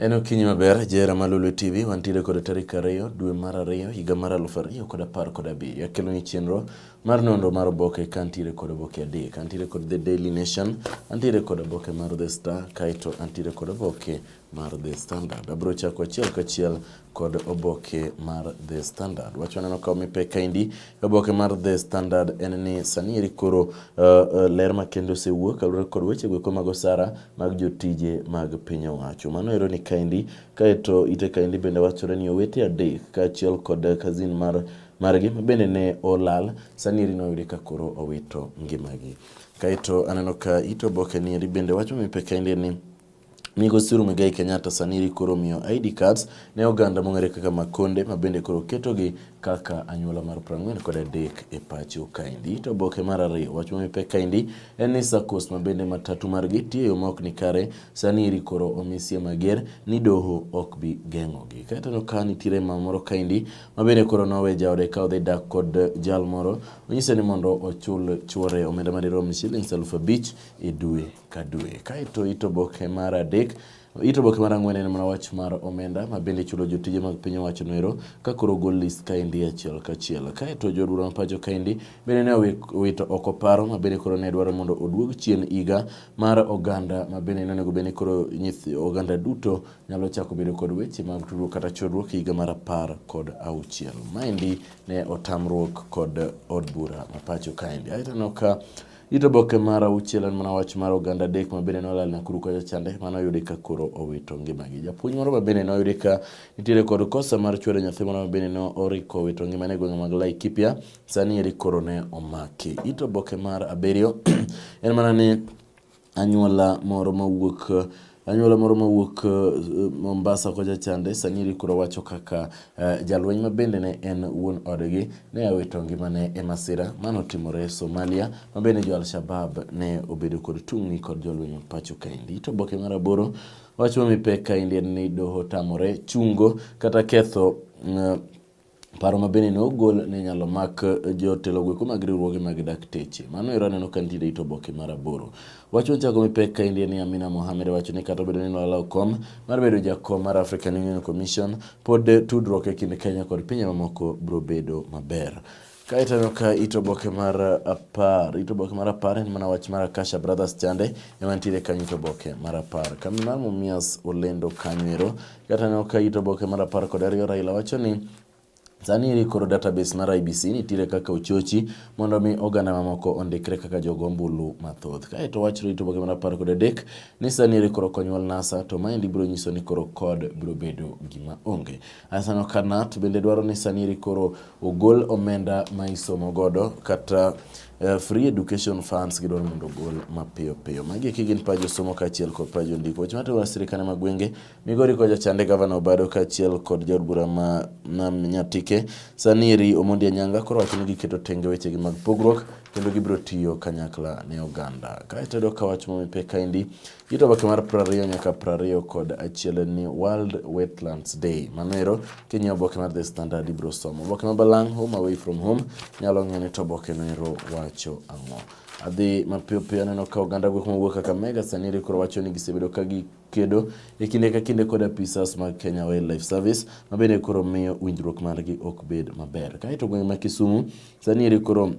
En okinyi maber, jera ma Lulu TV, wantiere kod tarik ariyo dwe mar ariyo higa mar aluf ariyo kod apar kod abiriyo. Akelo ni chenro mar nonro mar oboke ka antiere kod oboke adek. Antiere kod The Daily Nation, antiere kod oboke mar The Star, kaeto antiere kod oboke mar The Standard. Abro chako achiel kachiel kod oboke mar The Standard. Wach waneno ka omi pek kaendi oboke mar The Standard en ni sani eri koro uh, uh, ler makende osewuok kaluwore kod weche goeko mag osara mag jotije mag piny owacho. Mano ero ni kaendi kaeto ite kaendi bende wachore ni owete adek kaachiel kod kazin mar margi mabende ne olal sani eri noyudi ka koro owito ngimagi. Kaeto aneno ka ito oboke ni eri bende wacho mi pek kaendi ni Migosi Muigai Kenyatta Saniri koro miyo ID cards ne oganda mong'ere kaka Makonde ma bende koro ketogi kaka anyuola mar 40 kod adek e pacho kaendi. To oboke mar ariyo wach mamipek kaendi en ni SACCOs ma bende matatu margi tiyo yo maok ni kare Saniri koro omisie mager ni doho ok bi geng'ogi. Kaeto no ka nitiere mama moro kaendi ma bende koro nowe jaode ka odhi dak kod jal moro onyise ni mondo ochul chuore omenda madirom shillings aluf abich e dwe. ka dwe. Kaeto it oboke mar adek it oboke mar ang'wen en mana wach mar omenda ma bende ichulo jotije mag piny owacho noero ka koro ogol list kaendi achiel kachiel. Kaeto jo bura ma pacho kaendi bende ne owito oko paro ma bende koro ne dwaro mondo oduog chien higa mar oganda ma bende ne onego bed ni koro nyithi oganda duto nyalo chako bedo kod weche mag tudruok kata chodruok higa mar apar kod auchiel. Maendi ne otamruok kod od bura ma pacho kaendi. Aeto aneno ka It oboke mar auchiel en mana wach mar oganda adek ma bende nolal Nakuru kacha chande mane oyudi ka koro owito ngimagi. Japuonj moro ma bende noyudi ka nitiere kod kosa mar chwero nyathi moro ma bende ne oriko owito ngimane e gwenge mag Laikipia, sani eri koro ne omaki. It oboke mar abiriyo en mana ni anyuola moro mawuok Anyuola moro mawuok eh, Mombasa kocha chande sani rikuro wacho kaka eh, jalweny ma bende ne en wuon odgi ne awito ngimane e masira mano timore e Somalia ma bende jo Al-Shabab ne obedo kod tungni kod jolweny ma pacho kaendi. To oboke mar aboro wacho mipek kaendi en ni doho tamore chungo kata ketho eh, Paro ma bende ne ogol ne inyalo mak jotelo gweko mag riwruoge mag dakteche. Mano ero aneno ka nitie it oboke mar aboro. Wach mochako mi pek kaendi en ni Amina Mohamed wacho ni kata obedo ni nolalo kom mar bedo jakom mar African Union Commission, pod tudruok e kind Kenya kod pinje mamoko biro bedo maber. Kaeto aneno ka ito oboke mar apar ito oboke mar apar en mana wach mar Akasha Brothers chande ema nitiere kanyo ito oboke mar apar. Kambi mar Mumias olendo kanyo ero Kataneno ka it oboke mar apar kod ariyo Raila wacho ni Sani eri koro database mar IBC nitiere kaka ochochi mondo mi oganda mamoko ondikre kaka jogo ombulu mathoth. Kae to wach rito boke mar apar kod adek ni sani eri koro konyuol NASA to maendi biro nyiso ni koro kod biro bedo gima onge. Asano Kanat bende dwaro ni sani eri koro ogol omenda ma isomo godo kata Uh, free education funds gidwaro mondo ogol mapiyo piyo. Magi eki gin pajo somo kaachiel kod pajo ndiko. Weche matero wa sirikane ma gwenge Migori koja chande gavana Obado kaachiel kod jaod bura ma nam Nyatike Saniri Omondi Anyanga koro wacho ni giketo tenge wechegi mag pogruok kendo gibiro tiyo kanyakla ne oganda. Kae tedo ka wach momipeka indi Ito oboke mar prariyo nyaka prariyo kod achiel en ni World Wetlands Day. Mano ero king'iyo oboke mar The Standard ibiro somo. Oboke ma balang' Home Away From Home nyalo ng'eyo ni to oboke no ero wacho ang'o. Adhi mapiyo piyo aneno ka oganda gwek mowuok Kakamega sani ere koro wacho ni gisebedo ka gi kedo e kinde ka kinde kod apisas mag Kenya Wildlife Service ma bende koro miyo winjruok margi ok bed maber. Kae to gweng' ma Kisumu sani ere koro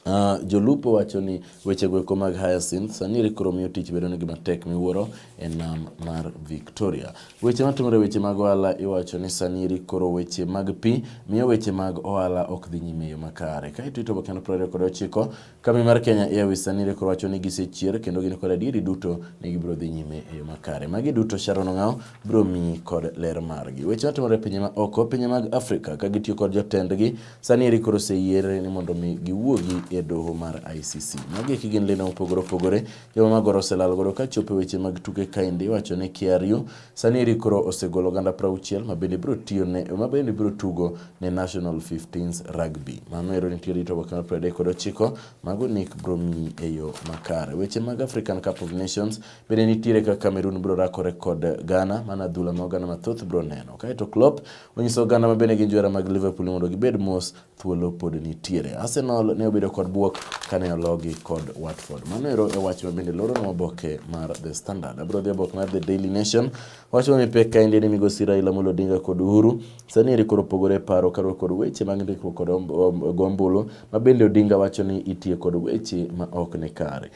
Uh, jolupo wacho ni weche goeko mag Hyacinth sani koro miyo tich bedo nigi matek miwuoro e nam mar Victoria. Weche matimore weche mag ohala iwacho ni sani koro weche mag pi miyo weche mag ohala ok dhi nyime yo makare. Ka ito itobo kendo prore kod ochiko, kambi mar Kenya Airways sani koro wacho ni gisechier kendo gin kod adieri duto ni gibiro dhi nyime e yo makare. Magi duto Sharon Ong'aw biro miyi kod ler margi. Weche matimore pinje ma oko, pinje mag Afrika ka gitiyo kod jotendgi Sani eri koro oseyier ni mondo mi giwuogi e doho mar ICC. Magi eki gin lina opogore opogore. Joma magoro oselal godo ka chopo e weche mag tuke kaendi iwacho ni KRU sani eri koro osegolo oganda prauchiel ma bende biro tiyo ne ma bende biro tugo ne National 15s Rugby. Mano ero nitie rito oboke mar 30 kod ochiko mago nik biro miyi e yo makare. Weche mag African Cup of Nations bende nitiere ka Cameroon biro rakore kod Ghana mana adhula ma oganda mathoth biro neno. Kaeto Klopp Onyiso oganda ma bende gin johera mag Liverpool ni mondo gibed mos, thuolo pod nitiere. Arsenal ne obedo kod buok kane ologi kod Watford. Mano ero e wach ma bende loronwa oboke mar The Standard. Abiro dhi oboke mar The Daily Nation. Wach ma mipek ka endi ni migosi Raila Amolo Odinga kod Uhuru sani eri koro pogore paro kaluwore kod weche mag ndikruok kod gombulu ma bende Odinga wacho ni itiyo kod weche ma ok ni kare.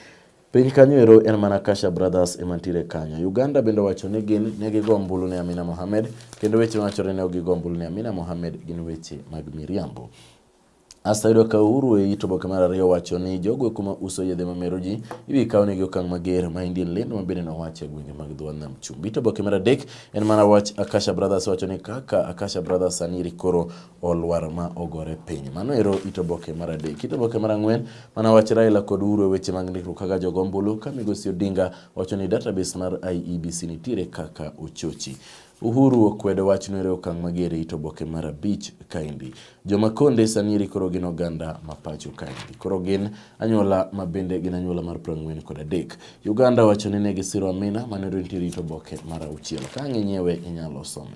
Piny kanyo ero en mana Kasha Brothers ema nitiere kanyo. Uganda bende owacho ni gin ne gigo ombulu ne Amina Mohamed kendo weche mawachore ne ok gigo ombulu ne Amina Mohamed gin weche mag miriambo. Asayudo ka Uhuru e it oboke mar ariyo wacho ni jogo kuma uso yedhe mamero ji ibi kaw negi okang' mager ma Indian lendo ma bende nowacho e gwenge mag dho nam chumbi. To oboke mar adek en mana wach Akasha Brothers wacho ni kaka Akasha Brothers sani koro olwar ma ogore piny. Mano ero it oboke mar adek. It oboke mar ang'wen mana wach Raila kod Uhuru e weche mag ndikruok kaka jogo ombulu ka migosi Odinga wacho ni database mar IEBC nitiere kaka ochochi. Uhuru okwedo wach nwere okang' mager e it oboke mar abich kaendi. Joma konde sanieri koro gin oganda ma pacho kaendi. Koro gin anyuola ma bende gin anyuola mar prang'wen kod adek. Uganda wacho ni ne gisiro Amina manero nitiere it oboke mar auchiel. Ka ang'inyewe inyalo some.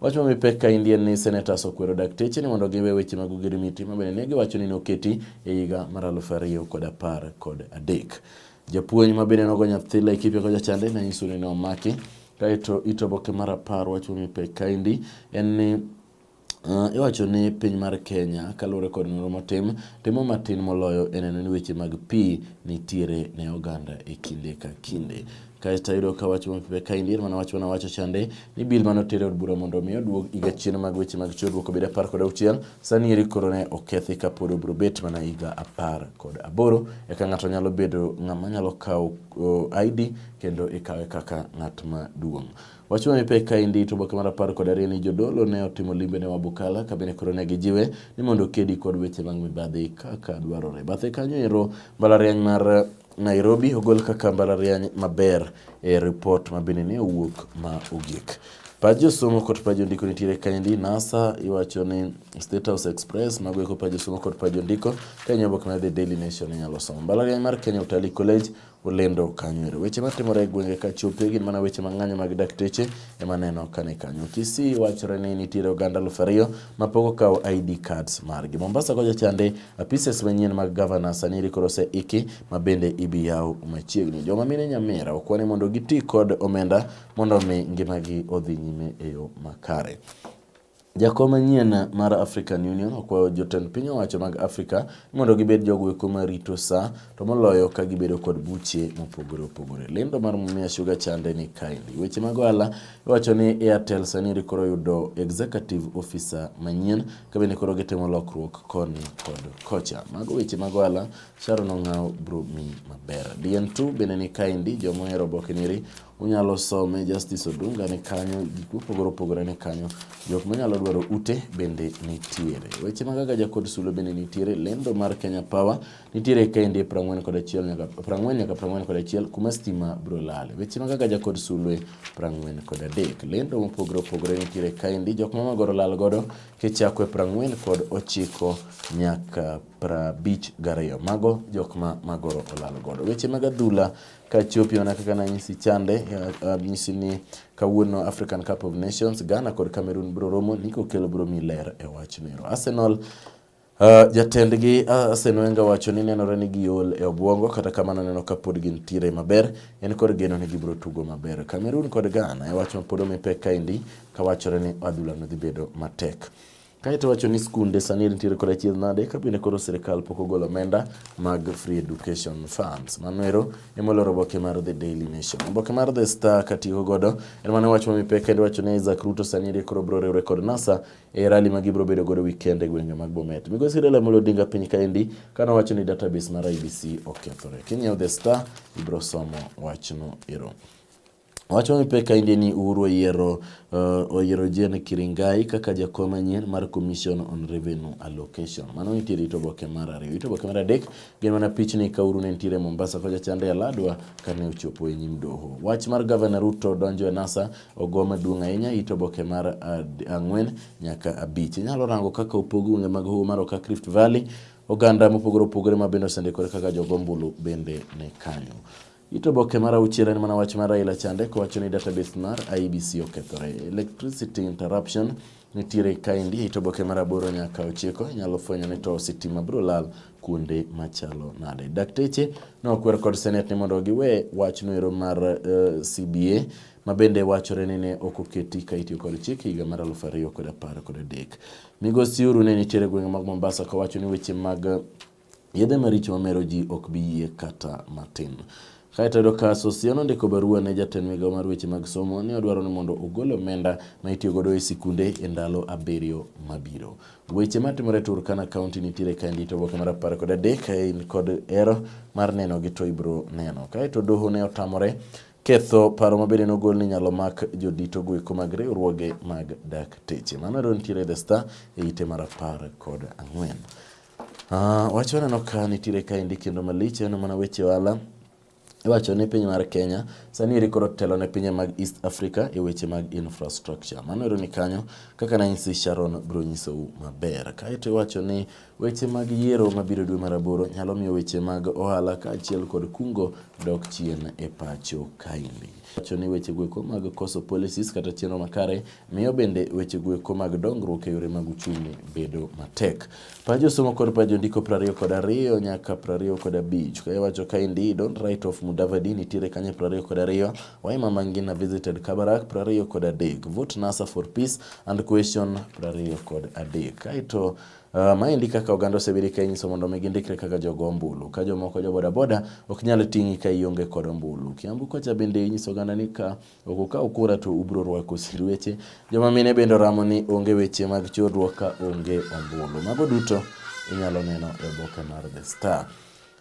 Wach ma mipek ka indi en ni senators okwero dakteche ni mondo giwe weche mag ogirimiti ma bende ne giwacho ni noketi e higa mar aluf ariyo kod apar kod adek. Japuonj ma bende nogo nyathi Laikipia kocha chande ne nyiso ni nomaki kaeto ito oboke mar apar wach ma mipek ka indi en ni Uh, iwacho ni piny mar Kenya kaluwore kod nonro motim timo matin moloyo e neno ni weche mag pi nitiere ne oganda e kinde ka kinde. Kaeto ayudo ka wach mapibe kaendi en mana wach mana wacho chande ni bil mane otere od bura mondo omi oduog higa chien mag weche mag chiwruok obed apar kod auchiel sani eri koro ne okethi ka pod obiro bet mana higa apar kod aboro eka ng'ato nyalo bedo ng'ama nyalo kawo uh, ID kendo ikawe kaka ng'at maduong'. Wach ma mipek kaendi to oboke mar apar kod ariyo ni jodolo ne otimo limbe ne Wabukala ka bende koro ne gijiwe ni mondo okedi kod weche mag mibadhi kaka dwarore. Bathe kanyo ero mbalariany mar Nairobi ogol kaka mbalariany maber e ripot mabende ne owuok ma ogik. Pach josomo kod pach jondiko nitiere kaendi. NASA iwacho ni State House Express mago eko pach josomo kod pach jondiko. Kenya oboke mar The Daily Nation inyalo somo. Mbalariany mar Kenya Utalii College olendo kanyo. Weche matimore e gwenge ka chope gin mana weche mang'anyo mag dakteche ema neno kani kanyo. Kisii wachore ni nitiere oganda aluf ariyo ma pok okawo ID cards margi. Mombasa kocha chande apises manyien mag gavana sani rikoro ose iki ma bende ibi yaw machiegni. Joma mine Nyamira okwane mondo giti kod omenda mondo omi ngimagi odhi nyime e yo makare. Jakom manyien mar African Union okwayo jotend piny owacho mag Afrika mondo gibed jogo eko ma rito sa to moloyo ka gibedo kod buche mopogore opogore. Lendo mar Mumia Sugar chande ni kaendi. Weche mag ohala iwacho ni Airtel sani koro yudo executive officer manyien ka bende koro gitimo lokruok koni kod kocha. Mago weche mag ohala Sharon Ong'aw bro mi maber. DN2 bende ni kaendi joma ohero oboke niri unyalo some Justice Odunga ni kanyo, gik mopogore opogore ni kanyo, jok manyalo dwaro ute bende nitiere. Weche magaga Jakod Sule bende nitiere, lendo mar Kenya Power Nitiere kende prang'wen kod achiel nyaka prang'wen nyaka prang'wen kod achiel kuma stima bro lal. Weche mag agaja kod sulwe prang'wen kod adek. Lendo mopogore opogore nitiere kaendi jok ma magoro lal godo kichako e prang'wen kod ochiko nyaka prabich gariyo. Mago jok ma magoro olal godo. Weche mag adhula kachopi mana kaka nanyisi chande anyisi eh, eh, ni kawuono African Cup of Nations Ghana kod Cameroon bro romo niko kelo bro mi ler e wach nero. Arsenal Uh, jatendgi uh, Arsene Wenger wacho ni nenore ni giol e obwongo kata kamano neno ka pod gintiere maber en kod geno ni gibiro tugo maber. Cameroon kod Ghana e wach ma pod omi pek kaendi ka wachore ni adhula no dhi bedo matek. Kaeto wacho ni skunde sani nitiere kod achiedh nade ka bende koro sirkal pok ogolo omenda mag free education funds. Mano ero ema oloro oboke mar The Daily Nation. Oboke mar The Star katiyo godo en mane wach mamipe kendo wacho ni Isaac Ruto sani eri koro biro riwre kod NASA e rally ma gibiro bedo godo weekend e gwenge mag Bomet. Migosi Raila Amolo Odinga piny kaendi kane owacho ni database mar IBC okethore. Kinyiewo The Star ibiro somo wachno ero. Wach mamipe kaendi ni Uhuru oyiero uh, oyiero Jane Kiringai kaka jakom manyien mar Commission on Revenue Allocation. Mano nitie rito boke mar ariyo. Rito boke mar adek gin mana pichni ka Uhuru ne nitiere Mombasa kocha chande Aladwa kane ochopo e nyim doho. Wach mar Gavana Ruto donjo e NASA ogo maduong' ahinya it oboke mar ang'wen nyaka abich. Inyalo rango kaka opog gwenge mag hoho mar Okak Rift Valley, oganda mopogore opogore ma bende osendikore kaka jogombulu bende ne kanyo. It oboke mar auchiel en mana wach mar Raila chande kowacho ni database mar IEBC okethore. Electricity interruption nitiere kaendi e it oboke mar aboro nyaka ochiko inyalo fwenyo ni to sitima biro lal kuonde machalo nade. Dakteche nokwer kod senet ni mondo giwe wachno ero mar uh, eh, CBA ma bende wachore ni ne ok oketi ka itiyo kod chik higa mar aluf ariyo kod apar kod adek. Migosi Uhuru ne nitiere gwenge mag Mombasa kawacho ni weche mag Yedhe maricho mamero ji ok bi yie kata matin. Kae to yudo ka Sosia nondiko barua ne jatend migawo mar weche mag somo ni odwaro ni mondo ogol omenda ma itiyo godo e sikunde e ndalo abiriyo mabiro. Weche matimore e Turkana County nitiere ka ndito oboke mar apar kod adek ka in kod ero mar neno gi to ibro neno. Kae to doho ne otamore ketho paro ma bende nogol ni nyalo mak jodito goeko mag riwruoge mag dakteche. Mano ero nitiere The Star e ite mar apar kod ang'wen. Ah, wach waneno ka nitiere kaendi kendo malich en mana weche ohala iwacho ni piny mar Kenya sani eri koro telo ne pinje mag East Africa e weche mag infrastructure. Mano ero ni kanyo kaka nanyisi Sharon biro nyisou maber. Kaeto iwacho ni weche mag yiero mabiro dwe mar aboro nyalo miyo weche mag ohala kaachiel kod kungo dok chien e pacho kaendi. Wacho ni weche goeko mag koso policies kata chenro makare miyo bende weche goeko mag dongruok e yore mag uchumi bedo matek. Pajo somo kod pajo ndiko prariyo kod ariyo nyaka prariyo kod abich kae wacho kaendi don't write of Mudavadi nitiere kanye prariyo kod ariyo Waima Mangina visited Kabarak prariyo kod adek vote NASA for peace and question prariyo kod adek kaeto Uh, maendi kaka oganda osebedo ka inyiso mondo mi gindikre kaka jogo ombulu ka jomoko jo bodaboda ok nyal ting'i ka ionge kod ombulu. Kiambu kocha bende inyiso oganda ni ka Ok ukaw kura to ubro rwako sirweche. Joma mine bende oramo ni onge weche mag chorruok ka onge ombulu. Mago duto inyalo neno e oboke mar The Star.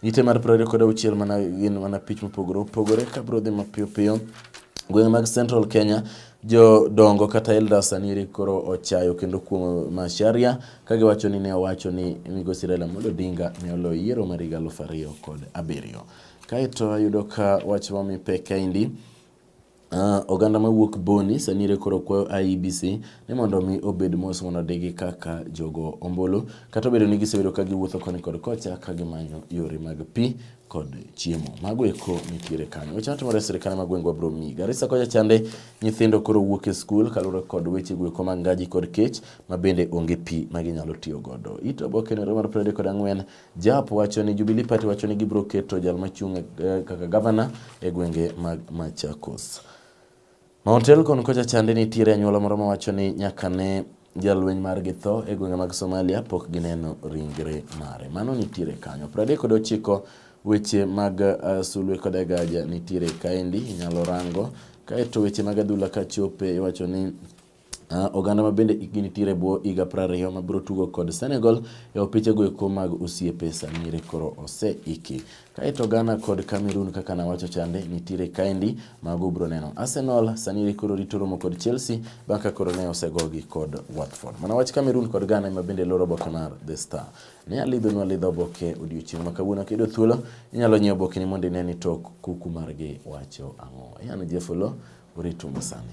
Ite mar piero ariyo kod auchiel mana gin mana pich mopogore opogore ka biro dhi mapiyo piyo. Gwenge mag Central Kenya jodongo kata elders sani koro ochayo kendo kuom Macharia ka giwacho ni ne owacho ni migosi Raila Amolo Odinga ne oloyo yiero mar higa aluf ariyo kod abiriyo. Kaeto ayudo ka wach mamipe kaendi Uh, oganda mawuok Boni Sanire koro kwayo IEBC ni mondo mi obed mos mondo odigi kaka jogo ombulu kata obedo ni gisebedo ka giwuotho koni kod kocha ka gimanyo yore mag pi kod chiemo. Mago eko nitiere kanyo. Weche matimore e sirkal ma gwengwa bro mi. Garissa kocha chande nyithindo koro wuok e skul kaluwore kod weche gweko mag ngaji kod kech ma bende onge pi ma ginyalo tiyo godo. Ito oboke nero mar prede kod ang'wen Jap wacho ni Jubilee Party wacho ni gibiro keto jal machung' eh, kaka gavana e gwenge mag Machakos. Mount Elgon kocha chande nitiere anyuola moro mawacho ni nyaka ne jalweny margi tho e gwenge mag Somalia pok gineno ringre mare. Mano nitiere kanyo. Pradek kod ochiko weche mag uh, sulwe koda gaja nitiere kaendi inyalo rango. Kaeto weche mag adhula kachope iwacho ni Uh, oganda ma bende ikgi nitiere bwo higa prariyo ma biro tugo kod Senegal e opiche go eko mag osiepe samire koro oseiki. Kaeto Ghana kod Cameroon kaka nawacho chande nitiere kaendi mago ubiro neno. Arsenal sani koro rito romo kod Chelsea bang' ka koro ne osegogi kod Watford. Mana wach Cameroon kod Ghana ema bende loro oboke mar The Star. Ne alidho nwa lidho oboke odiochieng' ma kawuono kiyudo thuolo inyalo nyiewo oboke ni mondo ine ni tok kuku margi wacho ang'o. Ian Jefolo uritu masani.